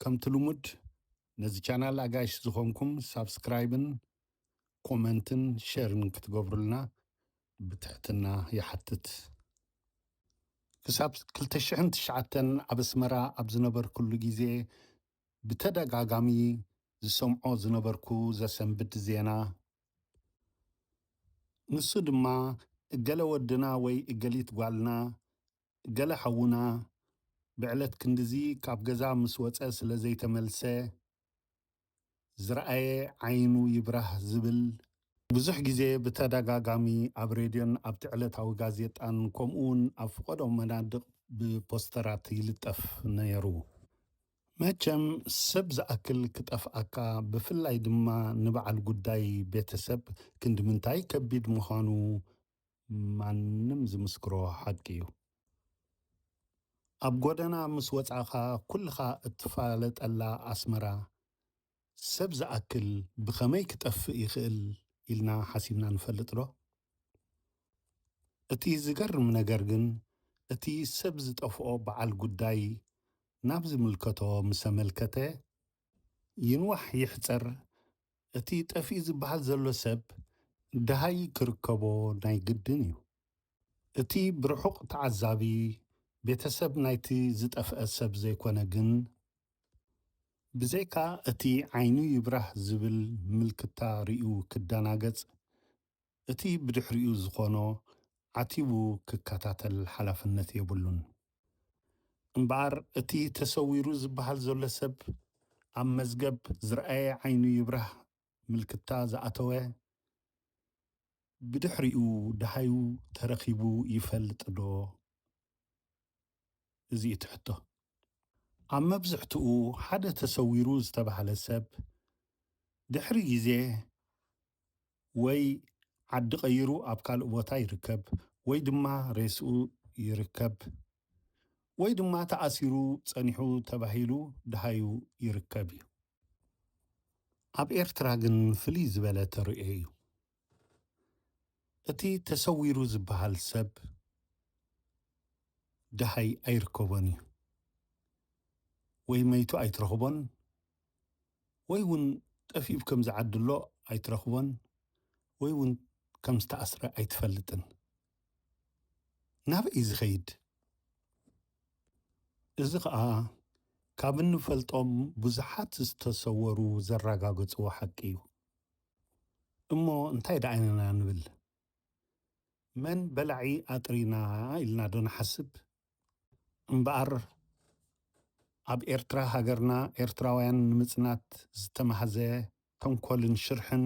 ከምቲ ልሙድ ነዚ ቻናል ኣጋይሽ ዝኾንኩም ሳብስክራይብን ኮመንትን ሸርን ክትገብሩልና ብትሕትና ይሓትት። ክሳብ ክልተ ሽሕን ትሽዓተን ኣብ ኣስመራ ኣብ ዝነበርኩሉ ግዜ ብተደጋጋሚ ዝሰምዖ ዝነበርኩ ዘሰንብድ ዜና ንሱ ድማ እገለ ወድና ወይ እገሊት ጓልና ገለ ሓውና ብዕለት ክንድዚ ካብ ገዛ ምስ ወጸ ስለ ዘይተመልሰ ዝረኣየ ዓይኑ ይብራህ ዝብል፣ ብዙሕ ግዜ ብተደጋጋሚ ኣብ ሬድዮን ኣብቲ ዕለታዊ ጋዜጣን ከምኡ'ውን ኣብ ፍቐዶ መናድቕ ብፖስተራት ይልጠፍ ነይሩ። መቸም ሰብ ዝኣክል ክጠፍኣካ ብፍላይ ድማ ንበዓል ጉዳይ ቤተሰብ ክንድምንታይ ከቢድ ምዃኑ ማንም ዝምስክሮ ሓቂ እዩ። ኣብ ጎደና ምስ ወጻኻ ኩልኻ እትፋለጠላ ኣስመራ ሰብ ዝኣክል ብኸመይ ክጠፍእ ይኽእል ኢልና ሓሲብና ንፈልጥዶ? እቲ ዝገርም ነገር ግን እቲ ሰብ ዝጠፍኦ በዓል ጉዳይ ናብ ዝምልከቶ ምሰ መልከተ ይንዋሕ ይሕጸር እቲ ጠፊኡ ዝበሃል ዘሎ ሰብ ደሃይ ክርከቦ ናይ ግድን እዩ። እቲ ብርሑቕ ተዓዛቢ ቤተሰብ ናይቲ ዝጠፍአ ሰብ ዘይኮነ ግን ብዘይካ እቲ ዓይኑ ይብራህ ዝብል ምልክታ ርእዩ ክደናገጽ እቲ ብድሕሪኡ ዝኾኖ ዓቲቡ ክከታተል ሓላፍነት የብሉን። እምበኣር እቲ ተሰዊሩ ዝበሃል ዘሎ ሰብ ኣብ መዝገብ ዝርኣየ ዓይኑ ይብራህ ምልክታ ዝኣተወ ብድሕሪኡ ደሃዩ ተረኺቡ ይፈልጥዶ? እዚ እቲ ሕቶ። ኣብ መብዝሕትኡ ሓደ ተሰዊሩ ዝተባህለ ሰብ ድሕሪ ግዜ ወይ ዓዲ ቀይሩ ኣብ ካልእ ቦታ ይርከብ ወይ ድማ ሬስኡ ይርከብ ወይ ድማ ተኣሲሩ ጸኒሑ ተባሂሉ ደሃዩ ይርከብ እዩ። ኣብ ኤርትራ ግን ፍልይ ዝበለ ተርእዮ እዩ። እቲ ተሰዊሩ ዝበሃል ሰብ ደሃይ ኣይርከቦን እዩ። ወይ መይቱ ኣይትረኽቦን ወይ ውን ጠፊኡ ብ ከምዚ ዓዲ ኣሎ ኣይትረኽቦን ወይ ውን ከም ዝተኣስረ ኣይትፈልጥን። ናበይ እዩ ዝኸይድ? እዚ ኸኣ ካብ እንፈልጦም ብዙሓት ዝተሰወሩ ዘራጋገጽዎ ሓቂ እዩ። እሞ እንታይ ደኣ ኢና ንብል? መን በላዒ ኣጥሪና ኢልና ዶ ንሓስብ? እምበኣር ኣብ ኤርትራ ሃገርና ኤርትራውያን ንምጽናት ዝተማህዘ ተንኮልን ሽርሕን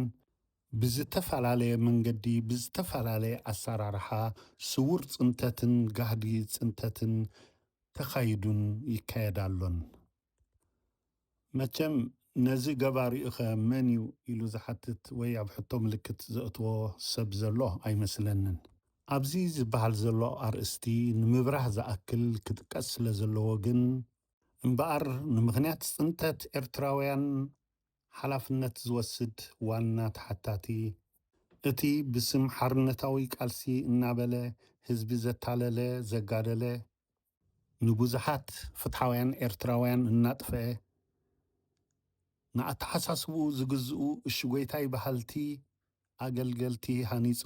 ብዝተፈላለየ መንገዲ ብዝተፈላለየ ኣሰራርሓ ስዉር ጽንተትን ጋህዲ ጽንተትን ተኻይዱን ይካየድ ኣሎን። መቸም ነዚ ገባሪኡኸ መን እዩ ኢሉ ዝሓትት ወይ ኣብ ሕቶ ምልክት ዘእትዎ ሰብ ዘሎ ኣይመስለንን። ኣብዚ ዝበሃል ዘሎ ኣርእስቲ ንምብራህ ዝኣክል ክጥቀስ ስለ ዘለዎ ግን እምበኣር ንምኽንያት ጽንተት ኤርትራውያን ሓላፍነት ዝወስድ ዋና ተሓታቲ እቲ ብስም ሓርነታዊ ቃልሲ እናበለ ህዝቢ ዘታለለ ዘጋደለ ንብዙሓት ፍትሓውያን ኤርትራውያን እናጥፈኤ፣ ንኣተሓሳስብኡ ዝግዝኡ እሽጎይታይ በሃልቲ ኣገልገልቲ ሃኒጹ፣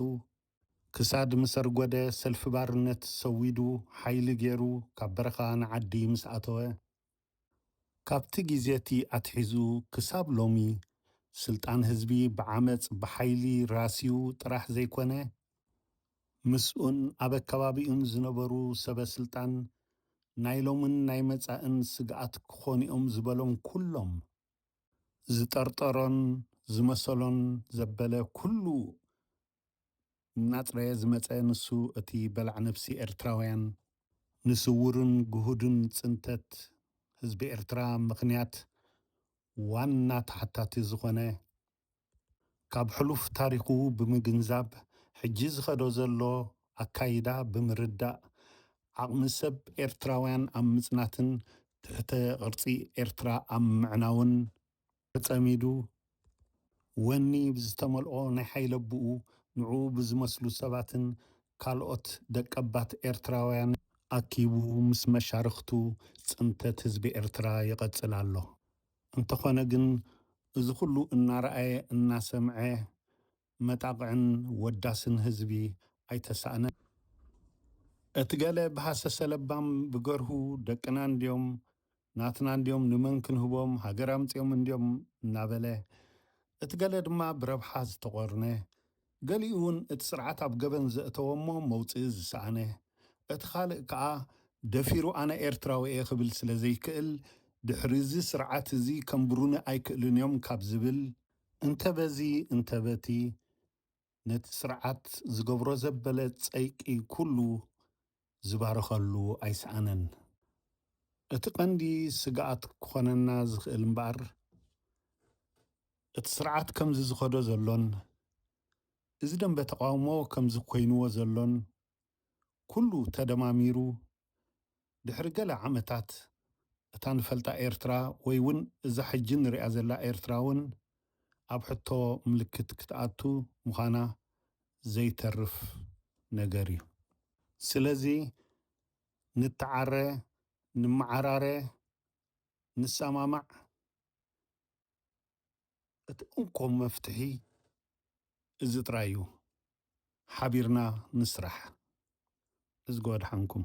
ክሳድ ምሰርጎደ ሰልፊ ባርነት ሰዊዱ ሓይሊ ጌሩ ካብ በረኻ ንዓዲ ምስ ኣተወ፣ ካብቲ ግዜ'ቲ ኣትሒዙ ክሳብ ሎሚ፣ ስልጣን ህዝቢ ብዓመጽ፣ ብሓይሊ ራስዩ ጥራሕ ዘይኮነ፣ ምስኡን ኣብ ኣከባቢኡን ዝነበሩ ሰበ-ስልጣን፣ ናይ ሎምን ናይ መጻእን ስግኣት ክኾኑ'ዮም ዝበሎም ኩሎም፣ ዝጠርጠሮን ዝመሰሎን ዘበለ ኩሉ እናጽረየ ዝመጸ ንሱ እቲ በላዕ ነብሲ ኤርትራውያን፣ ንስዉርን ግሁድን ጽንተት ህዝቢ ኤርትራ ምኽንያት ዋና ተሓታቲ ዝኾነ፣ ካብ ሕሉፍ ታሪኹ ብምግንዛብ ሕጂ ዝኸዶ ዘሎ ኣካይዳ ብምርዳእ ዓቕሚ ሰብ ኤርትራውያን ኣብ ምጽናትን ትሕተ ቅርጺ ኤርትራ ኣብ ምዕናውን ተጸሚዱ፣ ወኒ ብዝተመልኦ ናይ ሓይለብኡ ንዕኡ ብዝመስሉ ሰባትን ካልኦት ደቀባት ኤርትራውያንን ኣኪቡ ምስ መሻርኽቱ ጽንተት ህዝቢ ኤርትራ ይቐጽል ኣሎ። እንተኾነ ግን እዚ ኩሉ እናረኣየ እናሰምዐ መጣቕዕን ወዳስን ህዝቢ ኣይተሳእነን። እቲ ገለ ብሃሰሰ ለባም ብገርሁ ደቅና እንድዮም፣ ናትና እንድዮም ንመን ክንህቦም፣ ሃገር ኣምጺኦም እንድዮም እናበለ፣ እቲ ገለ ድማ ብረብሓ ዝተቖርነ፣ ገሊኡውን እቲ ስርዓት ኣብ ገበን ዘእተዎ'ሞ መውጽኢ ዝሰኣነ፣ እቲ ካልእ ከኣ ደፊሩ ኣነ ኤርትራዊ'የ ክብል ስለዘይክእል ድሕሪ'ዚ ስርዓት'ዚ ከንብሩኒ ኣይክእሉን'ዮም ካብ ዝብል፣ እንተ በዚ እንተ በቲ ነቲ ስርዓት ዝገብሮ ዘበለ ጸይቂ ኩሉ ዝባርኸሉ ኣይሰኣነን። እቲ ቀንዲ ስግኣት ክኾነና ዝኽእል እምበኣር እቲ ስርዓት ከምዚ ዝኸዶ ዘሎን እዚ ደምበ ተቓውሞ ከምዚ ኮይንዎ ዘሎን ኩሉ ተደማሚሩ ድሕሪ ገለ ዓመታት እታ ንፈልጣ ኤርትራ ወይ ውን እዛ ሕጂ ንሪኣ ዘላ ኤርትራ ውን ኣብ ሕቶ ምልክት ክትኣቱ ምዃና ዘይተርፍ ነገር እዩ። ስለዚ ንተዓረ፣ ንመዓራረ፣ ንሰማማዕ፣ እቲ እንኮ መፍትሒ እዚ ጥራይ እዩ ሓቢርና ንስራሕ እዝጊ ወድሓንኩም።